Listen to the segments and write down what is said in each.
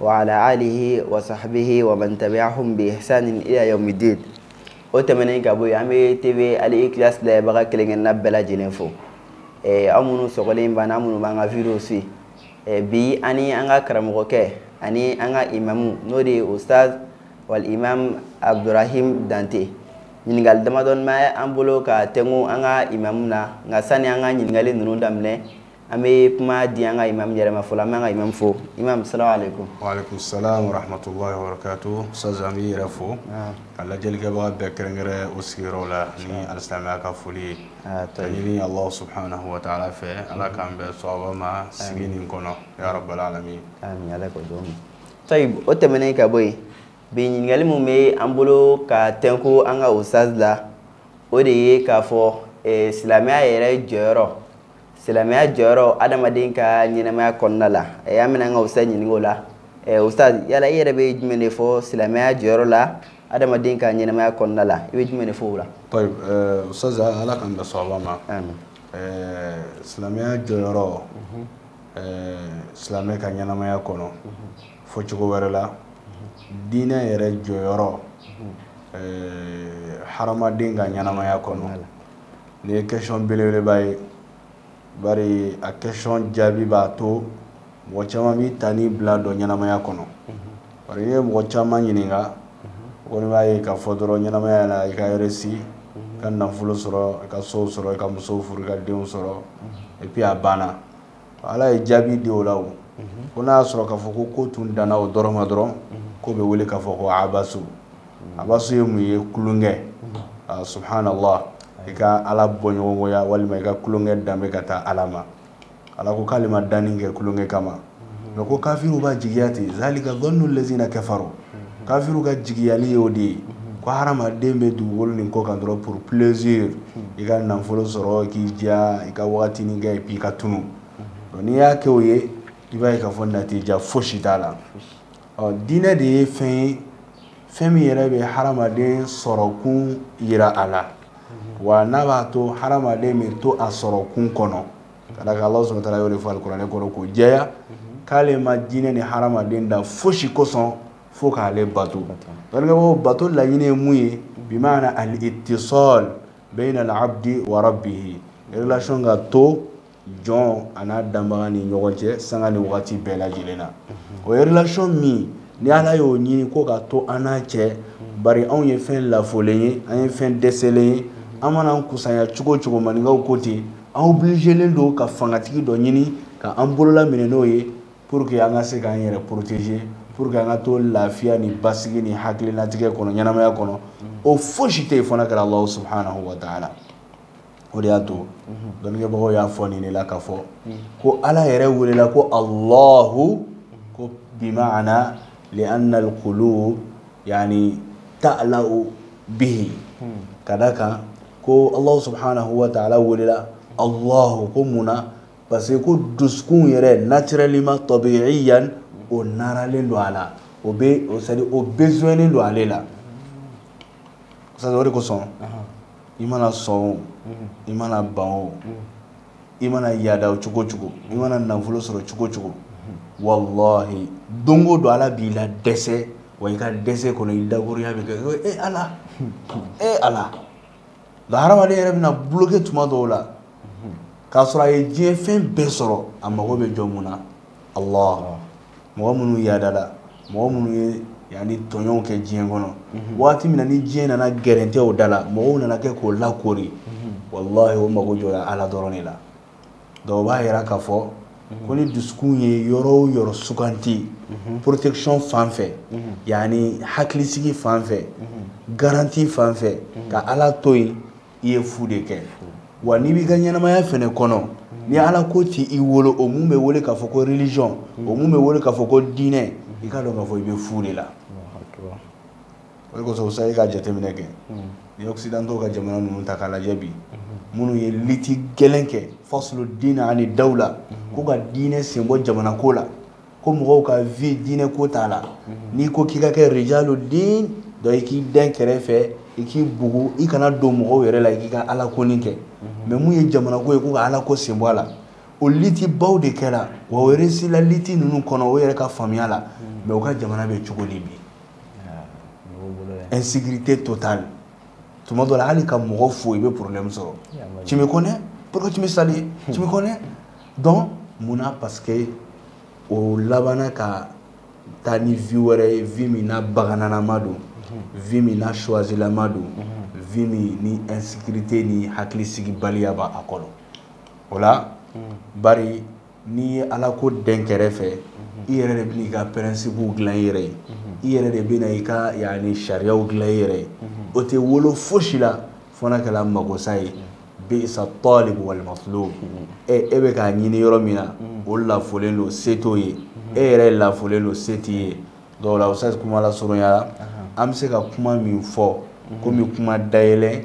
wa ala alihi wa sahbihi wa man tabi'ahum bi ihsanin ila yawmiddin o tɛmɛnen ka bɔ yen an bɛ tv al ikilas lajɛbaga kelen-kelenna bɛɛ lajɛlen fo eh, aw minnu sɔgɔlen b'an aw minnu b'an ka video suivi eh, bi ani an ka karamɔgɔkɛ ani an ka imamu n'o de ye ustaz wal imam abdurahim dante ɲininkali damadɔni bɛ an bolo ka tɛnku an ka imamu na nka sani an ka ɲininkali ninnu daminɛ an bɛ kuma di an ka imam yɛrɛ ma fɔlɔ an b'an ka imam fo imam salamu aleykum. waaleykum salaam wa rahmatulahi wa barakatu ustaz an b'i yɛrɛ fo ka lajɛlikɛbaga bɛɛ kɛrɛnkɛrɛn u sigiyɔrɔw la ni alisilamɛya ka foli ye ka ɲini alahu subahanahu wa taala fɛ ala k'an bɛn sawaba ma sigi nin kɔnɔ ya rabbal alamin. amin ala ko dɔn tayib o tɛmɛnen ka bɔ yen bi ɲininkali min bɛ an bolo ka tɛnku an ka ustaz la o de ye k'a fɔ eh, silamɛya yɛrɛ jɔyɔrɔ. silamɛya jɔyɔrɔ adamaden ka ɲɛnamaya kɔnɔna la an bɛna an ka ustaz ɲininka o la ustaz yala i yɛrɛ bɛ jumɛn de fɔ silamɛya jɔyɔrɔ la adamaden ka ɲɛnamaya kɔnɔna la i bɛ jumɛn de fɔ o la ustaz ala k'an bɛn sawaba ma silamɛya jɔyɔrɔ silamɛ ka ɲɛnamaya kɔnɔ fɔ cogo wɛrɛ la diinɛ yɛrɛ jɔyɔrɔ hadamaden ka ɲɛnamaya kɔnɔ Nin ye question belebeleba ye bari a question jaabi b'a to mɔgɔ caman b'i ta n'i bila dɔn ɲɛnamaya kɔnɔ bari n'i ye mɔgɔ caman ɲininka o kɔni b'a ye k'a fɔ dɔrɔn ɲɛnamaya la i ka réussi ka nafolo sɔrɔ ka so sɔrɔ i ka muso furu ka denw sɔrɔ et puis a banna ala ye jaabi di o la o ko n'a y'a sɔrɔ k'a fɔ ko ko tun danna o dɔrɔn ma dɔrɔn k'o bɛ wele k'a fɔ ko abasu abasu ye mun ye tulonkɛ subhanallah i ka ala bɔɲɔgɔnya walima i ka tulonkɛ danbe ka taa ala ma ala ko k'ale ma danni kɛ tulonkɛ kama nka ko kafiriw b'a jigiya ten zalika zannu lazina kafaru kafiriw ka jigiyali ye o de ye ko hadamaden bɛ dugukolo nin kɔ kan dɔrɔn pour plaisir i ka nafolo sɔrɔ k'i diya i ka wagatinin kɛ puis i ka tunu n'i y'a kɛ o ye i b'a ye k'a fɔ natija fosi t'a la ɔ diinɛ de ye fɛn ye fɛn min yɛrɛ bɛ hadamaden sɔrɔkun yira a la wa n'a b'a to hadamaden bɛ to a sɔrɔkun kɔnɔ ka da ala subahanahu wa taala y'o yɛrɛ fɔ kuranɛ kɔnɔ k'o jɛya mhm. k'ale ma jinɛ ni hadamaden da fosi kosɔn fo k'ale bato donc bato laɲini ye mun ye bi maana al ittisal bayna al abdi wa rabbihi relation ka to jɔn a n'a danbaga ni ɲɔgɔn cɛ sanga ni wagati bɛɛ lajɛlen na mhm. o ye relation min ni ala y'o ɲini ko ka to an n'a cɛ mhm. bari anw ye fɛn lafulen ye an ye fɛn dɛsɛlen ye an mana kusanya cogo cogo maninkaw ko ten an obligélen don ka fangatigi dɔ ɲini ka an bolola minɛ n'o ye pour que an ka se k'an yɛrɛ protéger pour que an ka to lafiya ni basigi ni hakilinatigɛ kɔnɔ ɲɛnamaya kɔnɔ o fosi tɛ yen fo n'a kɛra alahu subhanahu wa taala o de y'a to dɔnnikɛbagaw y'a fɔ nin de la k'a fɔ ko ala yɛrɛ welela ko alahu ko bimaana lianna alqulub yani ta'lahu bihi ka da kan ko Alahu subhanahu wa taala welela Alahu ko mun na parce que ko dusukun yɛrɛ naturellement tabiiyan o naralen don a la o bɛ c'est à dire o besoinlen don ale la c'est à dire o de kosɔn i mana sɔn o i mana ban o i mana yaada o cogo cogo i mana nafolo sɔrɔ cogo cogo walahi don o don Ala b'i ladɛsɛ. wa i ka dɛsɛ kɔnɔ i dakurunɲa bɛ kɛ e ala e ala nka hadamaden yɛrɛ bɛna bloqué tuma dɔw la k'a sɔrɔ a ye diɲɛ fɛn bɛɛ sɔrɔ a mago bɛ jɔ mun na ala mɔgɔ minnu yaadala mɔgɔ minnu ye yani tɔɲɔw kɛ diɲɛ kɔnɔ mhm. waati min na ni diɲɛ nana gɛrɛntɛ o da la mɔgɔw nana kɛ k'o lakoori mhm. walahi o mago jɔla ala dɔrɔn de la donc o b'a jira k'a fɔ ko ni dusukun ye yɔrɔ o yɔrɔ suganti protection fan fɛ yani hakilisigi fan fɛ garanti fan fɛ ka ala to yen i ye fu de kɛ wa n'i b'i ka ɲɛnamaya fɛnɛ kɔnɔ ni ala ko t'i i wolo o mun bɛ wele k'a fɔ ko religion o mun bɛ wele k'a fɔ ko diinɛ i k'a dɔn k'a fɔ i bɛ fu de la o de kosɔn sa i ka jateminɛ kɛ ni occidentaux ka jamana ninnu ta k'a lajɛ bi minnu ye liti gɛlɛn kɛ faslu diina ani dawla ko ka diinɛ senbɔ jamana ko la ko mɔgɔw ka vie diinɛ ko t'a la n'i ko k'i ka kɛ rijalu din donc i k'i dɛn kɛrɛfɛ i k'i bugu i kana don mɔgɔw yɛrɛ la i k'i ka ala ko nin kɛ mais mun ye jamana ko ye ko ka ala ko senbɔ a la o litibaw de kɛra wa o réussila liti ninnu kɔnɔ o yɛrɛ ka faamuya la mais u ka jamana bɛ cogo di bi n sigiri tɛ to ta tuma dɔ hali ka mɔgɔ fo i bɛ porolɛmi sɔrɔ ci bɛ kɔnɛ pkimi sa ci bɛ kɔnɛ dɔn munna pa que o labanana ka taa ni vi wɛrɛ ye vi min na bagananama don vi min na suwazlama don vi min ni n sigite ni hakili sigi baliyaba a kɔrɔ o la ba n'i ye ala ko dɛn kɛrɛfɛ i yɛrɛ de bɛna i ka principew dilan i yɛrɛ ye i yɛrɛ de bɛna i ka yani sariyaw dilan i yɛrɛ ye o tɛ wolo fosi la fo n'a kɛra magosa ye bisa talibu wal matlubu e e bɛ k'a ɲini yɔrɔ min na o lafolen don se t'o ye e yɛrɛ lafolen don se t'i ye dɔw la o sa kuma lasurunya la an bɛ se ka kuma min fɔ komi kuma dayɛlɛn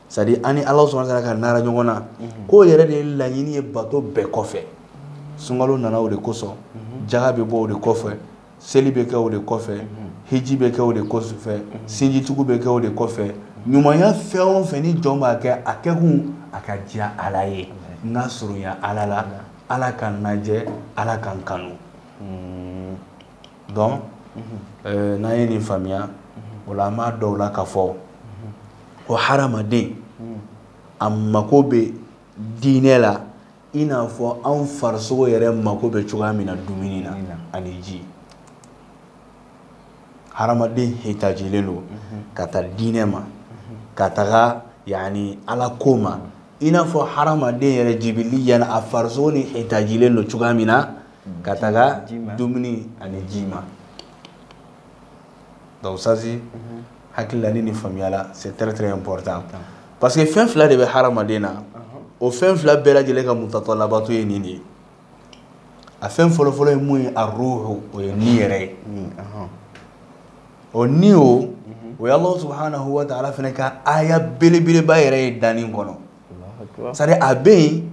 c'est à dire an ni ala subhanahu wa ta'ala ka nara ɲɔgɔn na mhm. k'o yɛrɛ de ye laɲini ye bato bɛɛ kɔfɛ sunkalo nana o de kosɔn mhm. jaga bɛ bɔ o de kɔfɛ seli bɛ kɛ o de kɔfɛ mhm. hiji bɛ kɛ o de kɔfɛ sinjitugu bɛ kɛ o de kɔfɛ ɲumanya fɛn o fɛn ni jɔn b'a kɛ a kɛkun a ka diya ala ye n ka surunya ala la ala ka n lajɛ ala ka n kanu hmm. donc eh, n'an ye nin faamuya o la an b'a dɔn o la k'a fɔ ko hadamaden a mako bɛ diinɛ la i n'a fɔ anw farisogo yɛrɛ mako bɛ cogoya min na dumuni na ani ji hadamaden hitajilen don ka taa diinɛ ma ka taga yani ala ko ma i n'a fɔ hadamaden yɛrɛ jibiliyan a farisogo ni hitajilen don cogoya min na ka taga dumuni ani ji ma donc ça c'est mhm. hakili la ni nin faamuyala c'est très très important parce que fɛn fila de bɛ hadamaden na o fɛn fila bɛɛ lajɛlen ka mutatalabatu ye nin de ye a fɛn fɔlɔfɔlɔ ye mun ye a ruhu o ye ni yɛrɛ ye o ni o o ye alahu subahanahu wa taala fana ka aya belebeleba yɛrɛ ye danni kɔnɔ c'est à dire a bɛ yen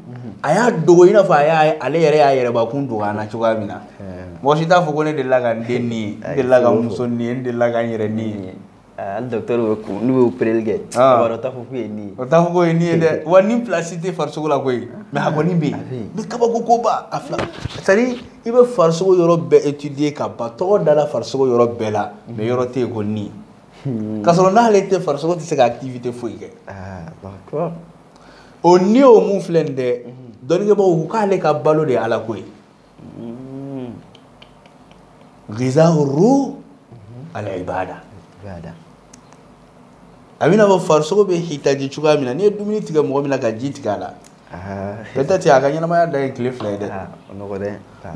a y'a dogo i n'a fɔ ale yɛrɛ y'a yɛrɛbakun dogo an na cogoya min na mɔgɔ si t'a fɔ ko ne delila ka n den ni ye n delila ka n muso ni ye n delila ka n yɛrɛ ni ye hali dɔkitɛriw bɛ kun n'u y'o opereli kɛ a b'a dɔn o t'a fɔ k'u ye ni ye o t'a fɔ k'o ye ni ye dɛ wa ni place tɛ farisogo la koyi mais a kɔni bɛ yen mais kabako ko b'a a fila c'est à dire i bɛ farisogo yɔrɔ bɛɛ étudier ka ban tɔgɔ dala farisogo yɔrɔ bɛɛ la mais yɔrɔ tɛ yen ko ni Hmm. K'a sɔrɔ n'ale tɛ farisogo tɛ se ka activité foyi kɛ. Ah, d'accord. O ni o mun filɛ nin dɛ, hmm. dɔnnikɛbaaw ko k'ale ka balo de ye Ala ko ye. Hmm. Ghizaa'u ruuh al-ibaada. Ibaada. A bɛ i n'a fɔ farisogo bɛ hitaji cogoya min na, n'i ye dumuni tigɛ mɔgɔ min na ka ji tigɛ a la. peut-être a ka ɲɛnamaya dan ye tile fila ye dɛ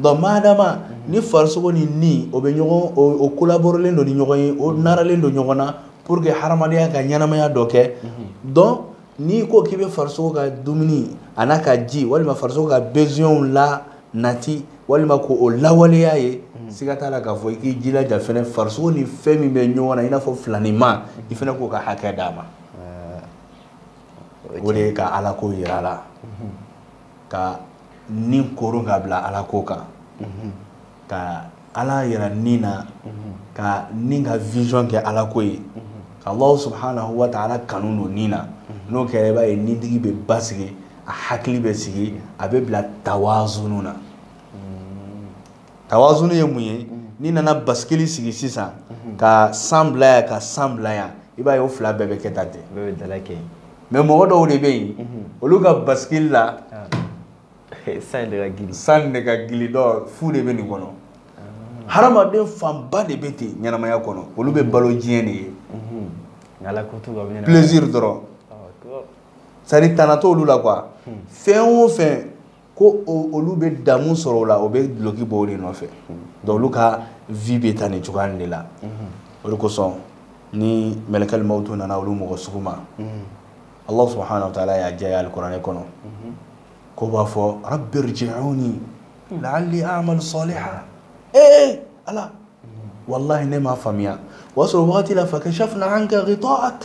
donc madama ni farisogo ni ni o bɛ ɲɔgɔn o collaborelen don ni ɲɔgɔn ye o naralen don ɲɔgɔn na pour que hadamadenya ka ɲɛnamaya dɔ kɛ donc n'i ko k'i bɛ farisogo ka dumuni a n'a ka ji walima farisogo ka besoinw lanati walima k'o lawaleya ye siga t'a la k'a fɔ i k'i jilaja fɛnɛ farisogo ni fɛn min bɛ ɲɔgɔn na i n'a fɔ filanima i fɛnɛ k'o ka hakɛ d'a ma o de ye ka ala ko yira la ka ni koron ka bila ala ko kan ka ala yira ni na ka ni ka vision kɛ ala ko ye ka allah subhanahu wa ta'ala kanu don ni na n'o kɛra i b'a ye nitigi bɛ basigi a hakili bɛ sigi a bɛ bila tawazunu na tawazunu ye mun ye n'i nana basikili sigi sisan ka san bila yan ka san bila yan i b'a ye o fila bɛɛ bɛ kɛ tan ten mais mɔgɔ dɔw de bɛ yen olu ka basikili la san de ka gili dɔ fu de bɛ nin kɔnɔ hadamaden fanba de bɛ ten ɲɛnamaya kɔnɔ olu bɛ balo diɲɛ de ye plaisir dɔrɔn sariya tana t'olu la quoi fɛn o fɛn ko olu bɛ damu sɔrɔ o la o bɛ duloki bɔ o de nɔfɛ donc olu ka vie bɛ taa nin cogoya de la o de kosɔn ni mɛlɛkɛli mawutu nana olu mɔgɔ sugu ma Allah subahana wa taala y'a jɛya alikuranɛ kɔnɔ k'o b'a fɔ rabbi rji'uni la'alli a'malu salihan ee ala walahi ne m'a faamuya o y'a sɔrɔ wagati la fakashafna anka ghita'ak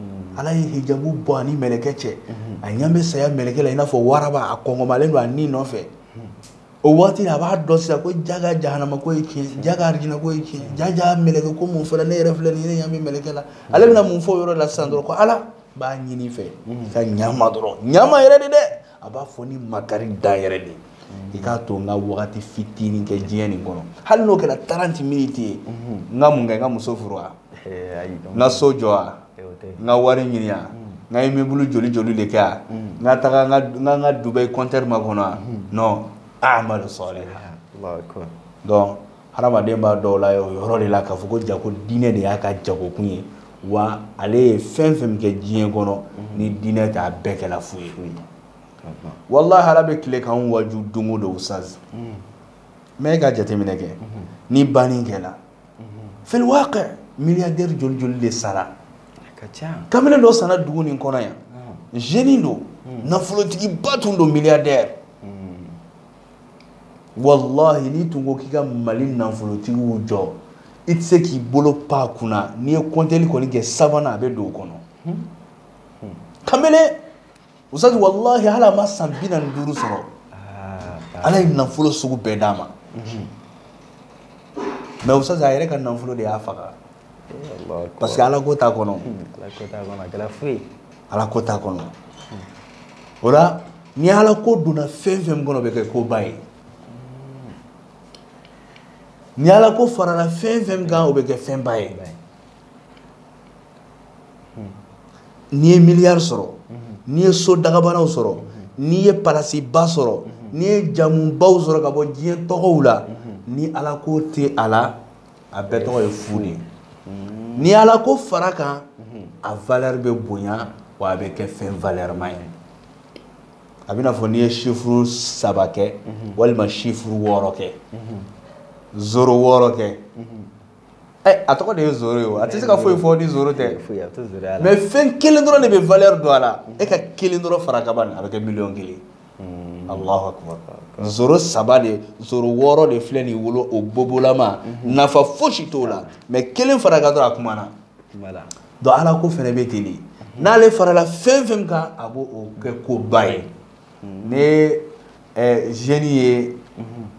Mm. ala ye hijabu bɔ a ni mɛlɛkɛ cɛ mm-hmm. a ɲɛ bɛ saya mɛlɛkɛ la i n'a fɔ waraba a kɔngɔmalen don a ni nɔfɛ mm. o waati la a b'a dɔn sisan ko jaga jahanama ko ye tiɲɛ jaga arijina ko ye tiɲɛ ja ja mɛlɛkɛ ko mun fɔla ne yɛrɛ filɛ nin ye ne ɲɛ bɛ mɛlɛkɛ la mm. ale bɛna mun fɔ o yɔrɔ la sisan dɔrɔn ko ala b'a ɲini i fɛ ka ɲama dɔrɔn ɲama yɛrɛ de dɛ a b'a fɔ ni makari dan yɛrɛ de i k'a to n ka wagati fitinin kɛ diɲɛ nin kɔnɔ hali n'o kɛra taranti miniti ye n ka mun kɛ n ka muso furu wa n ka so jɔ wa n ka wari ɲini wa n ka imibulu joli joli de kɛ wa n ka taga n ka dubayi kɔntɛri makɔnɔ wa non a'malu salihan donc hadamaden b'a dɔn o yɔrɔ de la k'a fɔ ko jaga diinɛ de y'a ka jagokun ye wa ale ye fɛn fɛn kɛ diɲɛ kɔnɔ ni diinɛ t'a bɛɛ kɛla fu ye walahi ala bɛ tile k'an waju don o don ustaz mais e ka jateminɛ kɛ ni banni kɛla fil waqi miliyadɛri joli joli de sara kamalen dɔ sara dugu nin kɔnɔ yan jeune don nafolotigiba tun don miliyadɛri walahi n'i tun ko k'i ka mali nafolotigiw jɔ i tɛ se k'i bolo pan a kunna n'i ye kɔntɛli kɔni kɛ sabanan a bɛ don o kɔnɔ hmm. Hmm. kamalen ustaz walahi hali a ma san bi naani duuru sɔrɔ ah, ala ye nafolo sugu bɛɛ d'a ma hmm. mais ustaz a yɛrɛ ka nafolo de y'a faga eh, parce que ala ko t'a kɔnɔ ala ko t'a kɔnɔ o la ni ala ko donna fɛn fɛn min kɔnɔ o bɛ kɛ koba ye ni ala ko farala fɛn fɛn min kan o bɛ kɛ fɛnba ye n'i ye miliyari sɔrɔ n'i ye so dagabanaw sɔrɔ n'i ye palasiba sɔrɔ n'i ye jamubaw sɔrɔ ka bɔ diɲɛ tɔgɔw la ni ala ko tɛ a la a bɛɛ tɔgɔ ye fu de ye ni ala ko fara kan a valeur bɛ bonya wa a bɛ kɛ fɛn valeur ma ye a bɛna fɔ n'i ye chiffre saba kɛ walima chiffre wɔɔrɔ kɛ zoro wɔɔrɔ kɛ ɛ a tɔgɔ de ye zoro ye o a tɛ se ka foyi fɔ ni zoro tɛ mais fɛn kelen dɔrɔn de bɛ valeur don a la e ka kelen dɔrɔn fara kan ban a bɛ kɛ miliyɔn kelen zoro saba de zoro wɔɔrɔ de filɛ nin wolo o bobolama mhm. nafa fosi t'o la mais kelen fara kan dɔrɔn a kumana donc ala ko fɛnɛ bɛ ten de mhm. n'ale farala fɛn fɛn kan a b'o kɛ koba ye mhm. ni ɛ jeune ye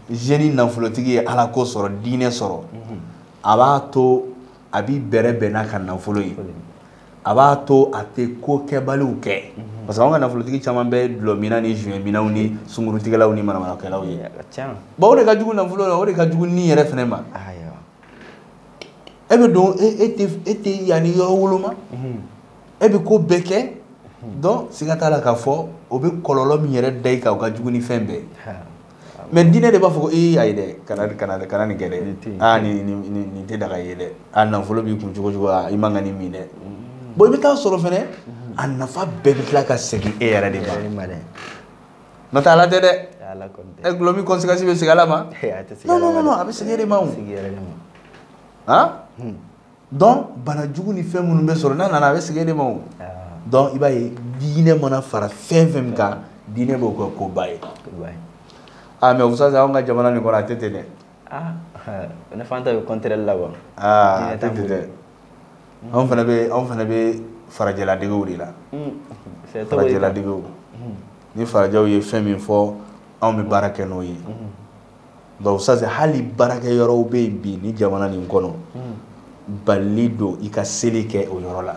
jeune nafolotigi ye ala ko sɔrɔ diinɛ sɔrɔ a b'a to a b'i bɛrɛ bɛn n'a ka nafolo ye. a b'a to a tɛ ko kɛbaliw kɛ mhm. parce que anw ka nafolotigi caman bɛ dulɔminna ni joint minnaw ni sungurutigɛlaw ni manamanakɛlaw ye bon o de ka jugu nafolo la o de ka jugu ni yɛrɛ fɛnɛ ma e bɛ don e tɛ e tɛ yanni yɔrɔ woloma mhm. e bɛ ko bɛɛ kɛ mhm. donc siga t'a la k'a fɔ o bɛ kɔlɔlɔ min yɛrɛ da i kan o ka jugu ni fɛn bɛɛ ye mais diinɛ de b'a fɔ ko ee ayi dɛ kana kana kana nin kɛ dɛ aa nin nin tɛ daga i ye dɛ a nafolo b'i kun cogo cogo i man ka nin min dɛ bon i bɛ taa sɔrɔ fɛnɛ a nafa bɛɛ bɛ tila ka segin e yɛrɛ de ma n'o tɛ ala tɛ dɛ ɛ dulɔmin conséquence bɛ segin ala ma non non non a bɛ segin e de ma o han donc banajugu ni fɛn minnu bɛ sɔrɔ n'a nana a bɛ segin e de ma o ah. donc i b'a ye diinɛ mana fara fɛn fɛn min kan diinɛ b'o kɛ koba ye aa mais ustaz anw ka jamana nin kɔnɔ a tɛ ten dɛ ah, eh, ne fan ta bɛ contraire la wa aa ah, a tɛ ten dɛ anw fana bɛ anw fana bɛ farajɛladegew de la hmm. farajɛladegew hmm. ni farajɛw ye fɛn min fɔ anw bɛ baara kɛ n'o ye hmm. nka ustaz hali baarakɛyɔrɔw bɛ yen bi nin jamana nin kɔnɔ balilen don i ka seli kɛ o yɔrɔ la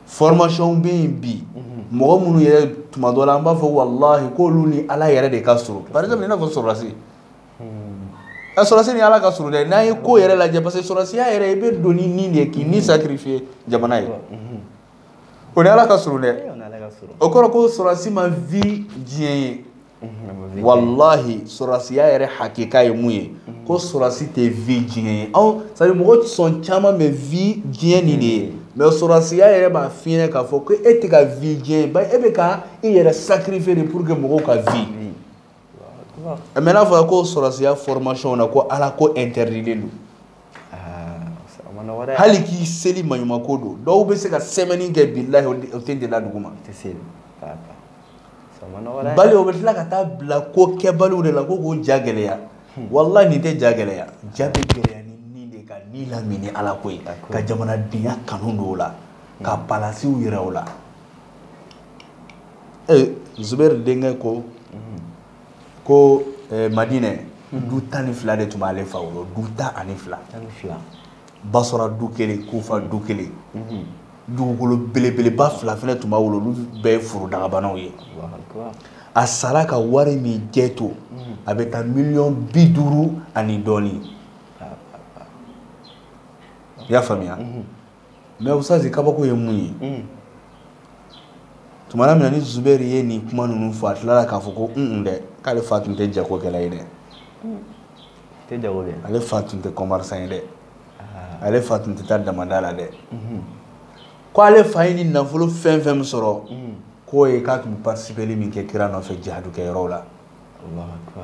formation bɛ yen bi mɔgɔ minnu yɛrɛ tuma dɔ la an b'a fɔ walahi k'olu ni ala yɛrɛ de ka surun par exemple i n'a fɔ sɔrɔdasi a sɔrɔdasi ni ala ka surun dɛ n'an ye ko yɛrɛ lajɛ parce que sɔrɔdasiya yɛrɛ i bɛ don ni nin de ye k'i ni sacrifier jamana ye o ni ala ka surun dɛ o kɔrɔ ko sɔrɔdasi ma vi diɲɛ ye mhm, walahi sɔrɔsiya yɛrɛ hakika ye mun ye mhm. ko sɔrɔsi tɛ vi diɲɛ ye anw c'est-à-dire mɔgɔ sɔn caman bɛ vi diɲɛ nin de ye mhm. mais sɔrɔsiya yɛrɛ b'a fiɲɛ k'a fɔ ko e tɛ ka vi diɲɛ ye bari e bɛ ka i yɛrɛ sacrifier de pour que mɔgɔw ka vi mais n'a fɔra ko sɔrɔsiya formation na ko ala ko interditlen don hali k'i seli maɲumako don dɔw bɛ se ka semaine kɛ bilahi o ten tɛ da dugu ma bali o bɛ tila ka taa bila ko kɛbaliw de la ko k'o ja gɛlɛya hmm. walahi nin tɛ ja gɛlɛya ja bɛ gɛlɛya ni nin de ka ni lamin ni ala ko ye ka jamanadenya kanu don o la hmm. ka palasiw yira o la ee zubɛri denkɛ ko hmm. ko eh, madinɛ du tan ni fila de tun b'ale fa bolo du tan ani fila basɔra du kelen kufa du kelen mhm. dugukolo belebeleba fila fɛnɛ tun b'a bolo olu bɛɛ ye forodagabanaw ye a sara ka wari min jɛ to mhm. a bɛ taa miliyɔn bi duuru ani dɔɔni ah, ah, ah. i y'a faamuya mhm. mɛ ustazi kabako ye mun ye tumana min na ibn zubɛri ye nin kuma ninnu fɔ a tilala k'a fɔ ko un dɛ k'ale fa tun tɛ jagokɛla ye dɛ tɛ jago kɛ ale fa tun tɛ commerçant ye dɛ ah. ale fa tun tɛ taa damanda la dɛ mhm. ko ale fa ye nin nafolo fɛn fɛn min sɔrɔ mhm. k'o ye k'a tun bɛ partisipeli min kɛ kira nɔfɛ jihadu kɛ yɔrɔw la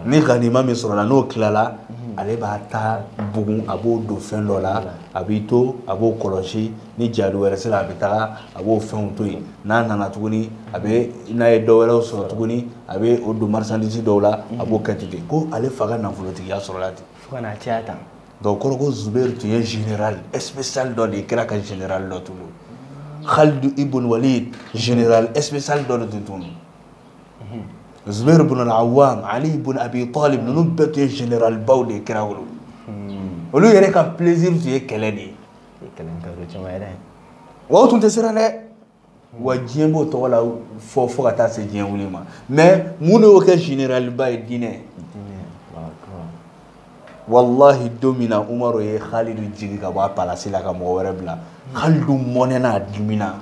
ni ganima min sɔrɔla n'o tilala mhm. ale b'a ta bugun a b'o don fɛn dɔ la a b'i to a b'o kɔlɔsi ni jihadu wɛrɛ sera a bɛ taga a b'o fɛnw to yen n'a nana tuguni a bɛ n'a ye dɔ wɛrɛw sɔrɔ tuguni a bɛ o don marchandise dɔw la a b'o kɛ ten ko ale fa ka nafolotigiya sɔrɔla ten fo ka na caya tan donc kɔrɔ ko zuberi tun ye général spécial dɔ de ye kira ka général dɔ tun don khalidu ibn walid général spécial dɔ de tun tun don zuberi ibn al-awwam ali ibn abi talib ninnu bɛɛ tun ye généralbaw de ye kira bolo hmm. olu yɛrɛ ka plaisir tun ye kɛlɛ de ye wa o tun tɛ siran dɛ wa diɲɛ b'o tɔgɔ lafɔ fo ka taa se diɲɛ wuli ma mɛ mun de y'o kɛ généraliba ye diinɛ walahi don min na umaru ye halidu jigin ka bɔ a palasi la ka mɔgɔ wɛrɛ bila halidu mɔnɛna a dimina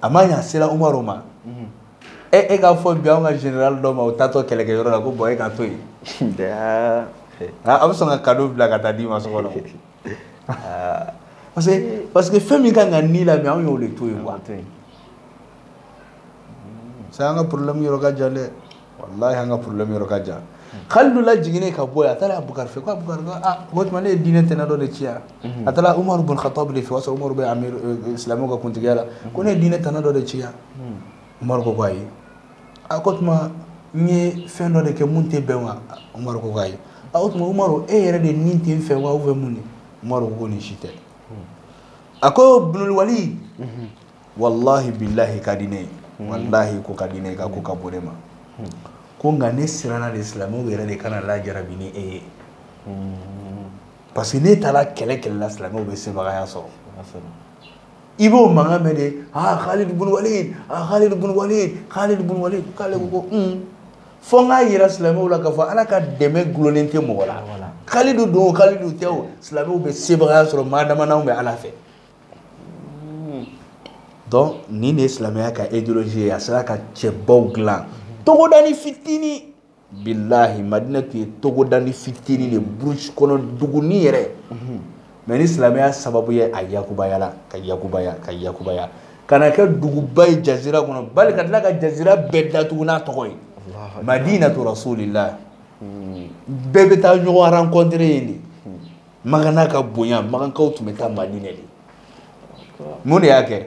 a ma ɲa a sera umaru ma e e k'a fɔ bi anw ka général dɔ ma o taatɔ kɛlɛkɛyɔrɔ la ko bɔn e ka to yen a bɛ sɔn ka kado bila ka taa d'i ma so kɔnɔ ah. parce que parce que fɛn min ka kan ka ni lamin anw y'o de to yen quoi ça an ka problème yɔrɔ ka jan dɛ walahi an ka problème yɔrɔ ka jan kalidu lajiginnen ka bɔ yen a taara abukari fɛ ko abukari ko ah o tuma ne ye diinɛ tɛnɛ dɔ de ci yan a taara umaru bun khatab de fɛ o y'a sɔrɔ umaru bɛ amir silamɛw ka kuntigiya la ko ne ye diinɛ tɛnɛ dɔ de ci yan umaru ko ko ayi a ko o tuma n ye fɛn dɔ de kɛ min tɛ bɛn wa umaru ko ko ayi a o tuma umaru e yɛrɛ de ni tɛ n fɛ wa ou bien mun de umaru ko ko nin si tɛ a ko ibnul walid walahi bilahi i ka di ne ye walahi i ko ka di ne ye i ka ko ka bon ne ma ko nka ne siranna de silamɛw yɛrɛ de kana lajarabi ni e ye parce que n'e taara kɛlɛ kɛlɛ la silamɛw bɛ sebagaya sɔrɔ i b'o mankan mɛn de aa Khalid bun Walid aa Khalid bun Walid Khalid bun Walid k'ale ko ko un fo n k'a yira silamɛw la k'a fɔ ala ka dɛmɛ gulonnen tɛ mɔgɔ la Khalidu don o Khalidu tɛ o silamɛw bɛ sebagaya sɔrɔ maa dama n'anw bɛ ala fɛ donc nin de ye silamɛya ka idéologie ye a sera ka cɛbaw dilan togodani fitini bilahi madina tun ye togodani fitini de burusi kɔnɔ duguni yɛrɛ mais ni silamɛya sababu ye a yakubayala ka yakubaya ka yakubaya ka na kɛ duguba ye jazira kɔnɔ bali ka tila ka jazira bɛɛ datugu n'a tɔgɔ ye madinatu rasulillah bɛɛ bɛ taa ɲɔgɔn rencontre yen de magan n'a ka bonya magankaw tun bɛ taa madina de mun de y'a kɛ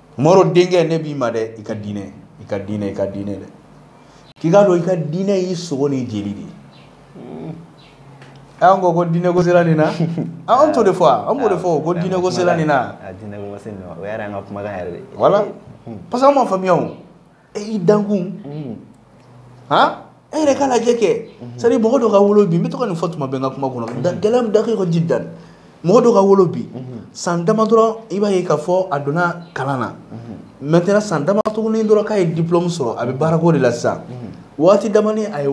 mɔro denkɛ ne b'i ma dɛ i ka diinɛ i ka diinɛ i ka diinɛ dɛ k'i k'a dɔn i ka diinɛ y'i sogo n'i jeli de ye an ko ko diinɛ ko sera nin na an t'o de fɔ an b'o de fɔ ko diinɛ ko sera nin na voilà parce que an m'a faamuya o e y'i dankun mm. han e yɛrɛ k'a lajɛ kɛ mm-hmm. c'est-à-dire mɔgɔ dɔ ka wolo bi n bɛ to ka nin fɔ tuma bɛɛ n ka kuma kɔnɔ mm-hmm. gɛlɛya min dakɛ ka ji dan mɔgɔ dɔ ka wolo bi mm-hmm. san dama dɔrɔn i b'a ye k'a fɔ a donna kalan na maintenant san dama tuguni dɔrɔn k'a ye diplôme sɔrɔ a bɛ baarako de la sisan waati damani a ye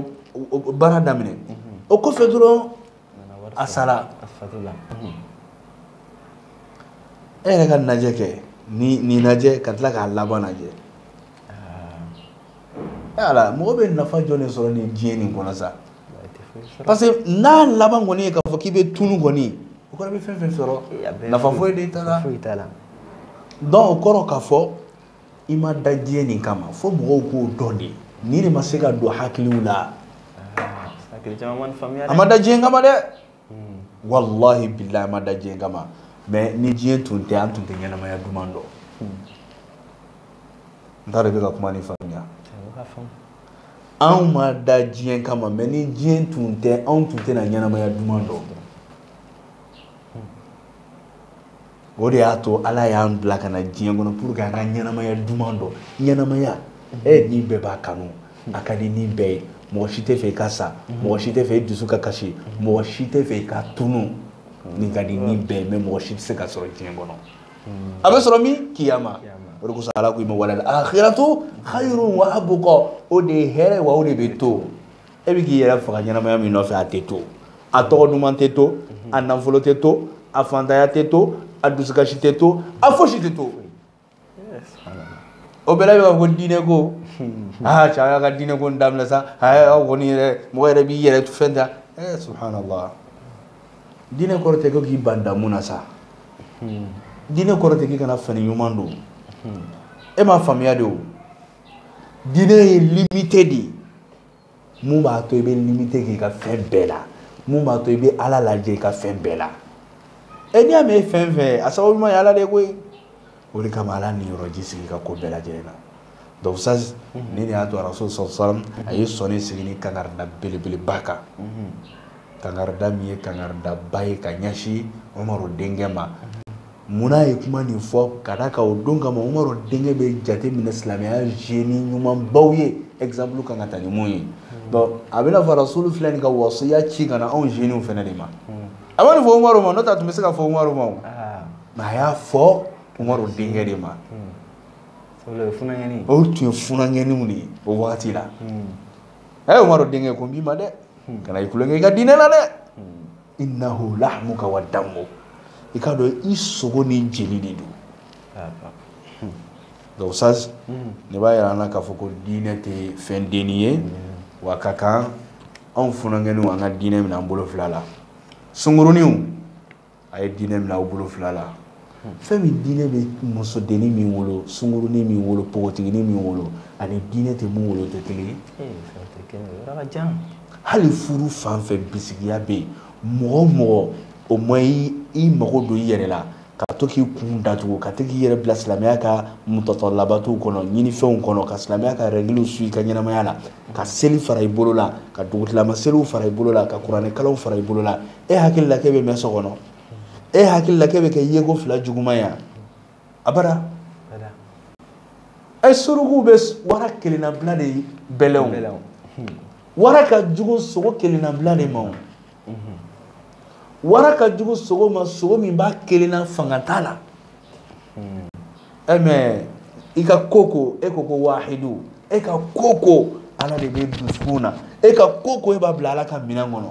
baara daminɛ o kɔfɛ dɔrɔn a sara e yɛrɛ k'a lajɛ kɛ ni nin lajɛ ka tila k'a laban lajɛ ala mɔgɔ bɛ nafa jɔn de sɔrɔ nin diɲɛ nin kɔnɔ sa parce que n'a laban kɔni ye k'a fɔ k'i bɛ tunu kɔni o kɔrɔ bɛ fɛn fɛn sɔrɔ nafa foyi de t'a la donc o kɔrɔ k'a fɔ i ma da diɲɛ nin kama fo mɔgɔw k'o dɔn de nin de ma se ka don hakiliw la an ma da diɲɛ kama dɛ walahi bilahi an ma da diɲɛ kama mais ni diɲɛ tun tɛ an tun tɛ ɲɛnamaya duman dɔn n t'a dɔn i bɛ ka kuma nin faamuya anw ma da diɲɛ kama mais ni diɲɛ tun tɛ anw tun tɛna ɲɛnamaya duman dɔn o de y'a to ala y'an bila ka na diɲɛ kɔnɔ pour que an ka ɲɛnamaya duman dɔn ɲɛnamaya e ni bɛɛ b'a kanu a ka di ni bɛɛ ye mɔgɔ si tɛ fɛ i ka sa mɔgɔ si tɛ fɛ i dusu ka kasi mɔgɔ si tɛ fɛ i ka tunu nin ka di ni bɛɛ ye mais mɔgɔ si tɛ se k'a sɔrɔ diɲɛ kɔnɔ a bɛ sɔrɔ min kiyama o de kosɔn ala ko i ma walal akhiratu khayrun wa abqa o de ye hɛrɛ wa o de bɛ to e bɛ k'i yɛrɛ faga ɲɛnamaya min nɔfɛ a tɛ to a tɔgɔ duman tɛ to a nafolo tɛ to a fantanya tɛ to a dusukasi tɛ to a fosi tɛ to o bɛɛ la i b'a fɔ ko diinɛ ko aa cɛ y'a ka diinɛ ko in daminɛ sa aa aw kɔni yɛrɛ mɔgɔ yɛrɛ b'i yɛrɛ fɛn ta ɛɛ subhanallah diinɛ kɔrɔ tɛ ko k'i ban damu na sa diinɛ kɔrɔ tɛ k'i kana fani ɲuman don e m'a faamuya de o diinɛ ye limite de ye mun b'a to i bɛ limite k'i ka fɛn bɛɛ la mun b'a to i bɛ ala lajɛ i ka fɛn bɛɛ la ɛ n'i y'a mɛn e fɛn fɛn ye a sababu ɲuman ye ala de ye koyi o de kama ala niyɔrɔ sigi i ka ko bɛɛ lajɛlen na donc ça nin de y'a to arasul sallam a ye sɔnin sigi nin kangarida belebeleba kan kangarida min ye kangaridaba ye ka ɲɛsin umaru denkɛ ma munna a ye kuma nin fɔ ka d'a kan o don kama umaru denkɛ bɛ jate minɛ silamɛya jeune ɲumanbaw ye exemple kan ka ta ni min ye donc a bɛna fɔ rasulu filɛ nin ka wasiya ci ka na anw jeunes fana de ma a ma nin fɔ umaru ma n'o tɛ a tun bɛ se ka fɔ umaru ma o mais a y'a fɔ umaru denkɛ de ma o tun ye funankɛninw de ye o wagati la a ye umaru denkɛ ko n b'i ma dɛ kana i tulonkɛ i ka diinɛ la dɛ innahu lahmuka wa damuk i k'a dɔn i sogo ni jeli de don donc ça nin b'a yira an na k'a fɔ ko diinɛ tɛ fɛn dennin ye wa a ka kan anw funankɛninw an ka diinɛ minɛ an bolo fila la sunguruninw a ye diinɛ minɛ aw bolo fila la fɛn min diinɛ bɛ musodennin min bolo sungurunin min bolo npogotiginin min bolo ani diinɛ tɛ min bolo tɛ kelen ye eh, hali furu fan fɛ bisigiya bɛ yen mɔgɔ o mɔgɔ o ma i mago don i yɛrɛ la ka to k'i kun datugu ka to k'i yɛrɛ bila silamɛya ka mutɔtɔ labatow kɔnɔ ɲinifɛnw kɔnɔ ka silamɛya ka rɛgiliw suivre i ka ɲɛnamaya la ka seli fara i bolo la ka dugutilama seliw fara i bolo la ka kuranɛkalanw fara i bolo la e hakili la k'e bɛ mɛn so kɔnɔ e hakili la k'e bɛ kɛ yeko fila juguman ye abada e surukuw bɛ wara kelennabila de bɛlɛn wara ka jugu sogo kelennabila de ma wara ka jugu sogo ma sogo min b'a kelenna fanga t'a la ɛ mais i ka ko o ko e ko ko wahidu e ka ko o ko ala de bɛ dusukun na e ka ko o ko e b'a bila ala ka minɛn kɔnɔ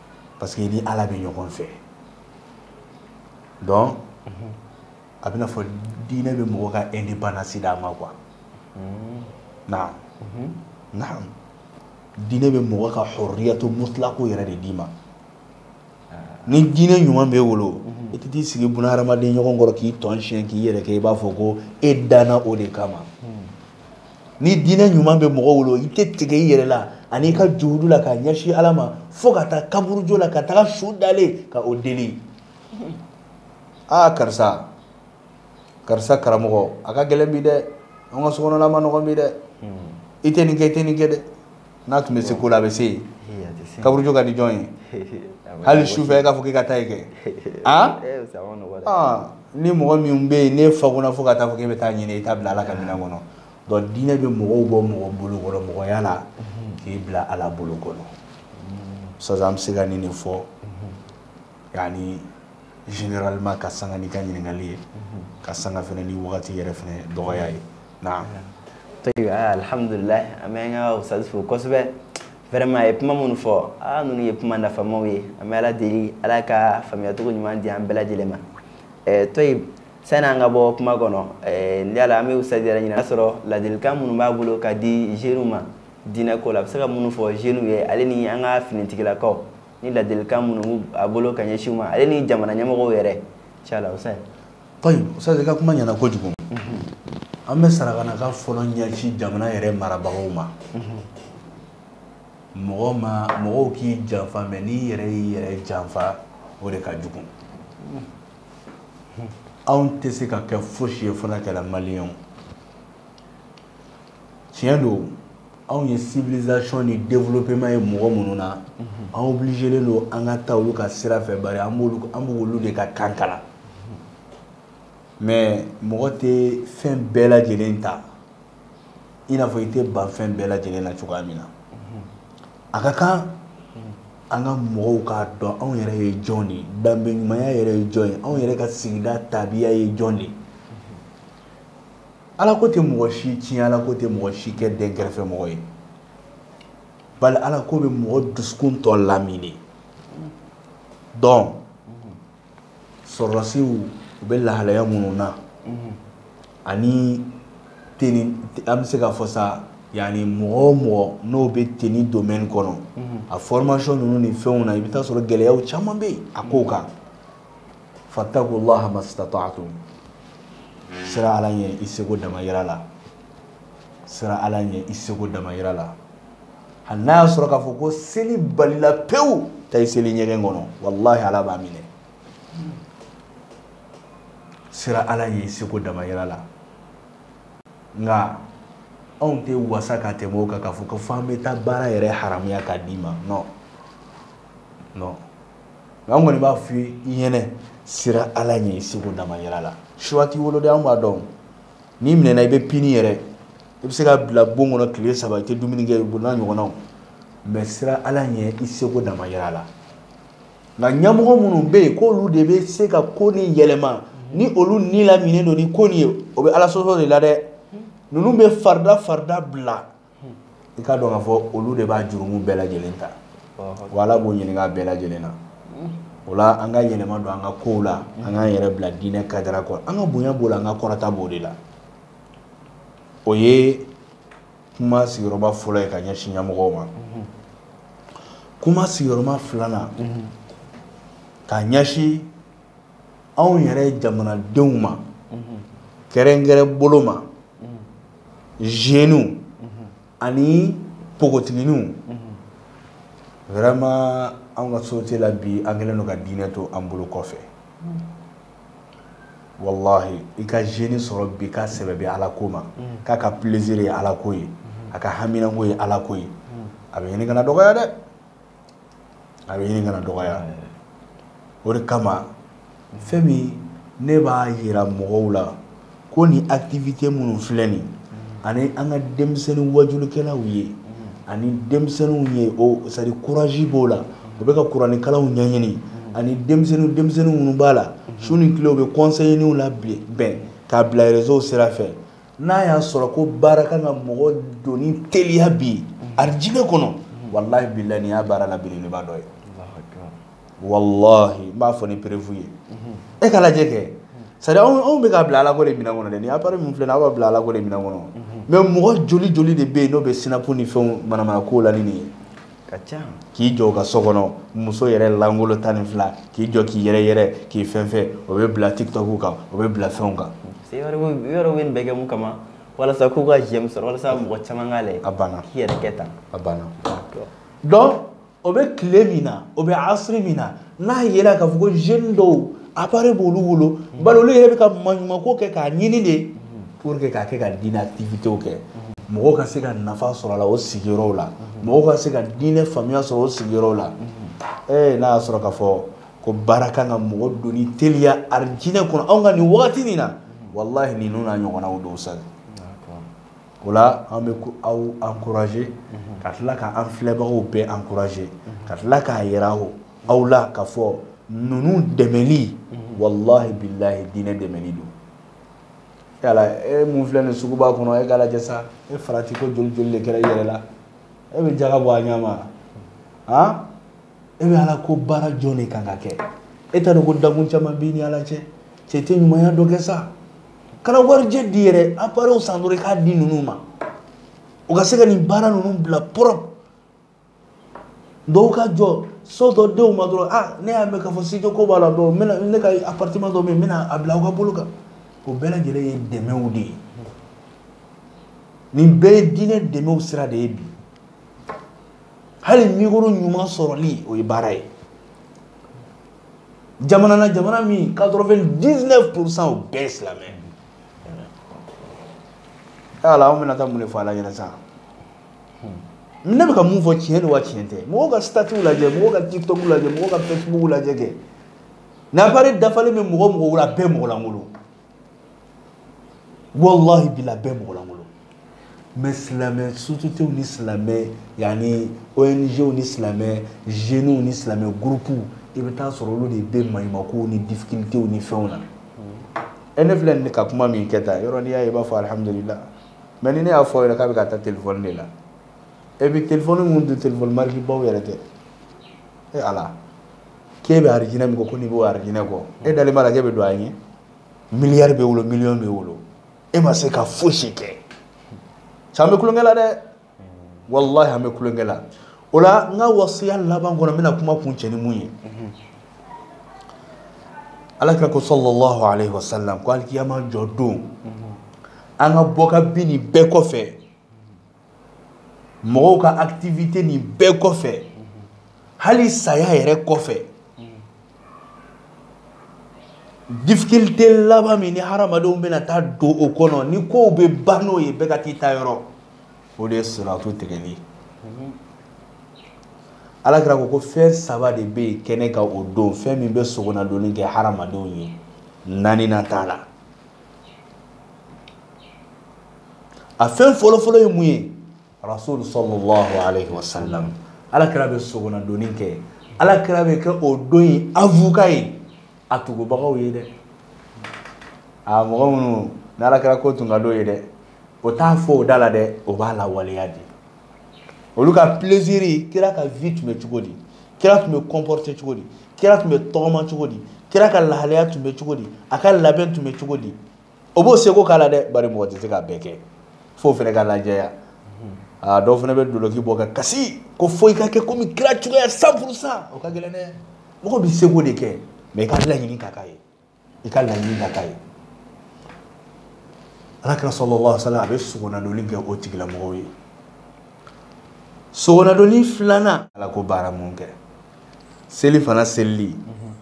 parce que i ni ala bɛ ɲɔgɔn fɛ donc a bɛna fɔ diinɛ bɛ mɔgɔ ka indépendance d'a ma quoi naam naam diinɛ bɛ mɔgɔ ka hurriyatu mutlaqu yɛrɛ de d'i ma ni diinɛ ɲuman b'e bolo i tɛ t'i sigi buna hadamaden ɲɔgɔn kɔrɔ k'i tɔn siyɛn k'i yɛrɛ kɛ i b'a fɔ ko e danna o de kama ni diinɛ ɲuman bɛ mɔgɔ bolo i tɛ tigɛ i yɛrɛ la an'i ka juhudu la ka ɲɛsin ala ma fo ka taa kaburujo la ka taga su dalen ka o deli aa karisa karisa karamɔgɔ a ka gɛlɛn bi dɛ an ka sokɔnɔla man nɔgɔn bi dɛ i tɛ nin kɛ i tɛ nin kɛ dɛ n'a tun bɛ se ko la a bɛ se yen kaburujo ka di jɔn ye hali sufɛ e k'a fɔ k'i ka taa ye kɛ an ni mɔgɔ min bɛ yen n'e fa kɔnɔ fo ka taa fɔ k'e bɛ taa ɲini i t'a bila ala ka minɛn kɔnɔ donc diinɛ bɛ mɔgɔw bɔ mɔgɔ bolo kɔrɔ mɔgɔya la k'i bila ala bolo kɔnɔ sisan an bɛ se ka nin de fɔ yani généralement ka sanga ni ka ɲininkali ye ka sanga fana ni wagati yɛrɛ fana dɔgɔya ye na tayibi ah, alhamdulilahi an bɛ an ka ustaz fo kosɛbɛ vraiment a ye kuma minnu fɔ a ah, ninnu ye kuma nafamaw ye an bɛ ala deli ala ka faamuyacogo ɲuman di an bɛɛ lajɛlen ma eh, tayibi sani an ka bɔ kuma kɔnɔ eh, n yala an bɛ ustaz yɛrɛ ɲininka sɔrɔ ladilikan minnu b'a bolo ka di jeunes ma diinɛ ko la a bɛ se ka minnu fɔ jeunes ye ale ni an ka finitigilakaw ni ladilikan minnu a bolo ka ɲɛsin u ma ale ni jamana ɲɛmɔgɔw yɛrɛ inshala ustaz tayibi ustaz i ka kuma ɲɛna kojugu mhm. an bɛ sarakanaka fɔlɔ ɲɛsin jamana yɛrɛ marabagaw ma mhm. mɔgɔ ma mɔgɔw k'i janfa mais n'i yɛrɛ y'i yɛrɛ janfa o de ka jugu mhm. anw tɛ se ka kɛ fosi ye fo n'an kɛra maliyɛnw tiɲɛ don anw ye civilisation ni développement ye mɔgɔ minnu na an obligelen don an ka taa olu ka sira fɛ bari an b'olu an b'olu de ka kan kalan mais mɔgɔ tɛ fɛn bɛɛ lajɛlen ta i n'a fɔ i tɛ ban fɛn bɛɛ lajɛlen na cogoya min na a ka kan an ka mɔgɔw k'a dɔn anw yɛrɛ ye jɔn de ye danbe ɲumanya yɛrɛ ye jɔn ye anw yɛrɛ ka sigida tabiya ye jɔn de ye ala ko tɛ mɔgɔ si tiɲɛ ala ko tɛ mɔgɔ si kɛ dɛnkɛrɛfɛ mɔgɔ ye bari ala ko bɛ mɔgɔ dusukun tɔ lamini donc sɔrɔdasiw u bɛ lahalaya minnu na ani tenue an bɛ se k'a fɔ sa yani mɔgɔ o mɔgɔ n'o bɛ tenue domaine kɔnɔ a formation ninnu ni fɛnw na i bɛ taa sɔrɔ gɛlɛyaw caman bɛ yen a kow kan. fattaqullaha mastata'tum siran ala ɲɛ i seko damayira la siran ala ɲɛ i seko damayira la hali n'a y'a sɔrɔ k'a fɔ ko seli balila pewu taa i seli ɲɛgɛn kɔnɔ walahi ala b'a minɛ siran ala ɲɛ i seko damayira la nka anw tɛ wasa ka tɛmɛ o kan k'a fɔ ko f'an bɛ taa baara yɛrɛ haramuya k'a d'i ma non non nka an kɔni b'a f'i ye i ɲɛnɛ sira ala ɲɛ i seko dama yira la choix t'i bolo dɛ an b'a dɔn n'i minɛna i bɛ puni yɛrɛ i bɛ se ka bila bon kɔnɔ tile saba i tɛ dumuni kɛ o n'a ɲɔgɔnnaw mais sira ala ɲɛ i seko dama yira la nka ɲɛmɔgɔ minnu bɛ yen k'olu de bɛ se ka ko nin yɛlɛma ni olu ni laminen don ni ko nin ye o bɛ ala sɔsɔ de la dɛ ninnu bɛ farida farida bila i k'a dɔn k'a fɔ olu de b'a jurumu bɛɛ lajɛlen ta wa ala b'o ɲininka bɛɛ lajɛlen na o la an ka yɛlɛma don an ka kow la an k'an yɛrɛ bila diinɛ cadre kɔnɔ an ka bonya b'o la an ka kɔrɔta b'o de la o ye kuma sigiyɔrɔma fɔlɔ ye ka ɲɛsin ɲɛmɔgɔw ma kuma sigiyɔrɔma filanan ka ɲɛsin anw yɛrɛ jamanadenw ma kɛrɛnkɛrɛn bolo ma jeunes ani npogotigininw vraiment anw ka société la bi an kɛlen don ka diinɛ to an bolo kɔfɛ wallahi i ka jeune sɔrɔ bi k'a sɛbɛ bɛ ala ko ma k'a ka plaisir ye ala ko ye a ka haminanko ye ala ko ye a bɛ ɲini ka na dɔgɔya dɛ a bɛ ɲini ka na dɔgɔya o de kama fɛn min ne b'a yira mɔgɔw la ko ni activité minnu filɛ nin ani an ka denmisɛnnin wajulikɛlaw ye ani denmisɛnninw ye o c'est à dire courage b'o la u bɛ ka kuranikalanw ɲɛɲini ani denmisɛnnin denmisɛnnin minnu b'a la su ni tile u bɛ conseilninw labɛn k'a bila réseau sira fɛ n'a y'a sɔrɔ ko baara kan ka mɔgɔ donni teliya bi arijinɛ kɔnɔ walahi bilahi nin y'a baara la belebeleba dɔ ye walahi n b'a fɔ ni preuve ye e k'a lajɛ kɛ c'est à dire anw bɛ k'a bila alako de minɛn kɔnɔ dɛ nin appareil min filɛ nin aw b'a bila alako de minɛn kɔnɔ mais mɔgɔ joli joli de bɛ yen n'o bɛ snap ni fɛnw manamana kow la ni nin ye ka ca k'i jɔ u ka so kɔnɔ muso yɛrɛ langolo tan ni fila k'i jɔ k'i yɛrɛ yɛrɛ k'i fɛn fɛn o bɛ bila tiktok kan o bɛ bila fɛnw kan yɔrɔ bɛ nin bɛɛ kɛ mun kama walasa k'u ka j'aime sɔrɔ walasa mɔgɔ caman k'a lajɛ a banna k'i yɛrɛ kɛ tan a banna donc o bɛ tile min na o bɛ asiri min na n'a yera k'a fɔ ko jeune dɔw appareil b'olu bolo bari olu yɛrɛ bɛ ka maɲumako kɛ k'a ɲini de pour que k'a kɛ ka diinɛ activités kɛ mɔgɔw ka se ka nafa sɔrɔ a la o sigiyɔrɔw la mɔgɔw ka se ka diinɛ faamuya sɔrɔ o sigiyɔrɔw la ee n'a y'a sɔrɔ k'a fɔ ko baara kan ka mɔgɔ donni teliya arijinɛ kɔnɔ anw ka nin wagati nin na walahi ninnu n'a ɲɔgɔnnaw don sa o la an bɛ aw encourager ka tila ka an filɛbagaw bɛɛ encourager ka tila k'a yira o aw la k'a fɔ ninnu dɛmɛli walahi bilahi diinɛ dɛmɛli don yala e mun filɛ nin suguba kɔnɔ e k'a lajɛ sa e farati ko joli joli de kɛra i yɛrɛ la e bɛ jaga bɔ a ɲɛma han e bɛ ala ko baara jɔn de kan ka kɛ e t'a dɔn ko dakun caman b'i ni ala cɛ e tɛ ɲumanya dɔ kɛ sa kana warijɛ di yɛrɛ appareil san dɔrɔn i k'a di ninnu ma u ka se ka nin baara ninnu bila propre dɔw ka jɔ so dɔ d'anw ma dɔrɔn ah ne y'a mɛn k'a fɔ studio ko b'a la dɔrɔn n bɛna ne ka appartement dɔ bɛ yen n bɛna a bila aw ka bolo kan o bɛɛ lajɛlen ye dɛmɛw de ye nin bɛɛ ye diinɛ dɛmɛw sira de ye bi hali micro ɲuman sɔrɔli o ye baara ye jamana na jamana min 99 pourcent o bɛɛ ye silamɛ ala anw bɛna taa mun de fɔ ala ɲɛ na sa ne bɛ ka mun fɔ tiɲɛ don wa tiɲɛ tɛ mɔgɔw ka statut lajɛ mɔgɔw ka tiktok lajɛ mɔgɔw ka facebook lajɛ kɛ n'appareil dafalen bɛ mɔgɔ mɔgɔ la bɛɛ mɔgɔ lankolon walahi bila bɛɛ mɔgɔ lankolon mais silamɛ sociétéw ni silamɛ yani ong ni silamɛ jeunes ni silamɛ gurupuw i bɛ taa sɔrɔ olu de bɛ maɲumakow ni difficultéw ni fɛnw na ɛ ne filɛ nin ka kuma min kɛ tan yɔrɔ n'i y'a ye i b'a fɔ alhamdulillah mais ni ne y'a fɔ yɛrɛ k'a bɛ ka ta telefɔni de la et puis telefɔni minnu don telefɔni marikibaw yɛrɛ tɛ e ala k'e bɛ arijinɛ min kɔ ko n'i b'o arijinɛ kɔ e dalen b'a la k'e bɛ don a ɲɛ miliyari b'e bolo miliyɔn b'e bolo e ma se ka fosi kɛ sa an bɛ tulonkɛ la dɛ walahi an bɛ tulonkɛ la o la n ka wasiya laban kɔnɔ n bɛna kuma kuncɛ ni mun ye alakira ko sallallahu alaihi wasallam ko alikiyama jɔ don an ka bɔ ka bin nin bɛɛ kɔfɛ mɔgɔw ka activité nin bɛɛ kɔfɛ hali saya yɛrɛ kɔfɛ difficulté laban min ni hadamadenw bɛna taa don o kɔnɔ ni kow bɛ ban n'o ye bɛɛ ka t'i ta yɔrɔ o de ye siratu tigɛli alakira ko ko fɛn saba de bɛ yen kɛnɛ kan o don fɛn min bɛ sogonadonni kɛ hadamadenw ye naaninan t'a la a fɛn fɔlɔfɔlɔ ye mun ye rasulu sallallahu alaihi wasallam ala kira bɛ sogonadonni kɛ ala kira bɛ kɛ o don in avocat ye a tugubagaw ye dɛ a mɔgɔ minnu ni ala kira ko tun ka d'o ye dɛ o t'a fɔ o da la dɛ o b'a lawaleya de olu ka plaisir kira ka vie tun bɛ cogo di kira tun bɛ comporter cogo di kira tun bɛ tɔgɔma cogo di kira ka lahalaya tun bɛ cogo di a ka labɛn tun bɛ cogo di o b'o seko k'a la dɛ bari mɔgɔ tɛ se k'a bɛɛ kɛ f'o fana ka lajɛya aa dɔw fana bɛ doloki bɔ ka kasi ko fo i ka kɛ komi kira cogoya 100 pourcent o ka gɛlɛn dɛ mɔgɔ bɛ seko de kɛ mais i ka laɲini ka k'a ye i ka laɲini ka k'a ye ala kira sallallahu alaihi wasallam a bɛ sogonadonni kɛ o tigilamɔgɔw ye sogonadonni filanan ala ko baara mun kɛ seli fana selili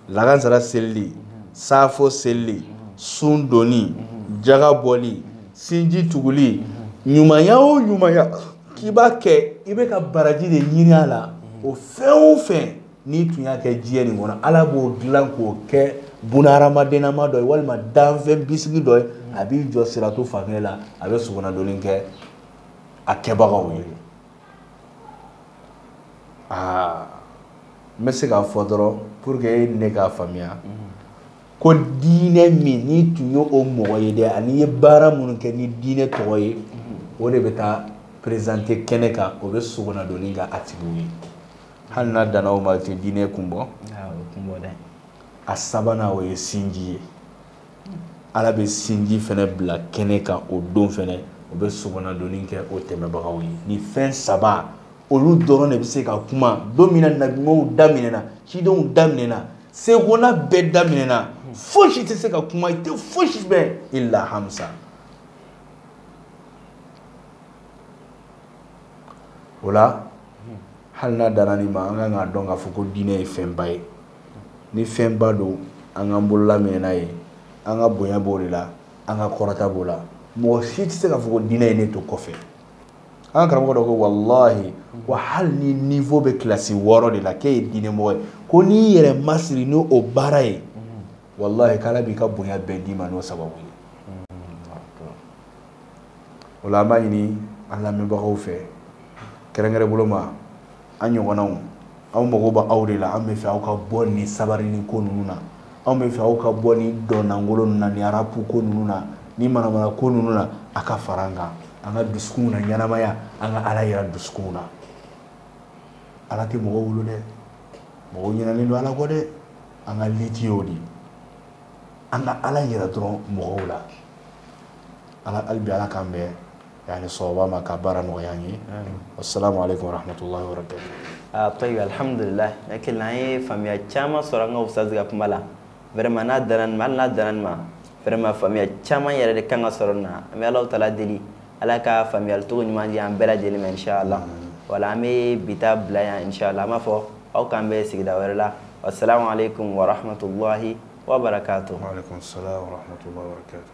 lagansara selili saafo selili sun donni jaga bɔli sinji tuguli ɲumanya o ɲumanya k'i b'a kɛ i bɛ ka baraji de ɲini a la o fɛn o fɛn n'i tun y'a kɛ diɲɛ nin kɔnɔ ala b'o dilan k'o kɛ bunahadamadenama dɔ ye walima danfɛn bisigi dɔ ye a b'i jɔ siratu fan kelen la a bɛ sogonadonni kɛ a kɛbagaw ye aa n bɛ se k'a fɔ dɔrɔn pour que e ni ne k'a faamuya ko diinɛ min n'i tun ye o mɔgɔ ye dɛ an'i ye baara minnu kɛ ni diinɛ tɔgɔ ye o de bɛ taa présenter kɛnɛ kan o bɛ sogonadonni kɛ a tigiw ye hali n'a danna o ma o tɛ diinɛ kun bɔ a sabanan o ye sinji ye ala bɛ sinji fana bila kɛnɛ kan o don fana o bɛ sogonadonni kɛ o tɛmɛbagaw ye nin fɛn saba olu dɔrɔn de bɛ se ka kuma don min na nabiɲumanw da minɛna cidenw da minɛna segona bɛɛ da minɛna fosi tɛ se ka kuma i tɛ fosi mɛn illa hamsa o la hali n'a danna nin ma an kan k'a dɔn k'a fɔ ko diinɛ ye fɛnba ye ni fɛnba don an k'an bolola minɛ n'a ye an ka bonya b'o de la an ka kɔrɔta b'o la mɔgɔ si tɛ se k'a fɔ ko diinɛ ye ne to kɔfɛ an ka karamɔgɔ dɔ ko walahi ko hali n'i niveau bɛ kilasi wɔɔrɔ de la k'e ye diinɛ mɔgɔ ye ko n'i yɛrɛ masiri n'o baara ye walahi k'ala b'i ka bonya bɛɛ d'i ma n'o sababu ye o la an b'a ɲini an lamɛnbagaw fɛ kɛrɛnkɛrɛn bolo ma an ɲɔgɔnnaw anw mago bɛ aw de la an bɛ fɛ aw ka bɔ ni sabarinin ko ninnu na anw bɛ fɛ aw ka bɔ ni dɔnnangolo ninnu na ni arapu ko ninnu na ni manamana ko ninnu na a ka fara an kan an ka dusukunw naɲɛnamaya an ka ala yira dusukunw na ala tɛ mɔgɔw bolo dɛ mɔgɔw ɲinalen don ala kɔ dɛ an ka liti y'o de an ka ala yira dɔrɔn mɔgɔw la ala hali bi ala k'an bɛn yani sawaba ma ka baara nɔgɔya an ye assalamu alaikum warahmatullahi wabarakatuh tayibi alhamdulillah ne kelen an ye faamuya caman sɔrɔ an ka ustazi ka kuma la vraiment n'a danna nin ma hali n'a danna nin ma vraiment faamuya caman yɛrɛ de kan ka sɔrɔ nin na an bɛ ala taala deli ala ka faamuyali cogo ɲuman di an bɛɛ lajɛlen ma inshallah voilà an bɛ bi ta bila yan inshallah an b'a fɔ aw k'an bɛn sigida wɛrɛ la wassalamu alaikum warahmatullahi wabarakatuh wa alaikum salam warahmatullahi wabarakatuh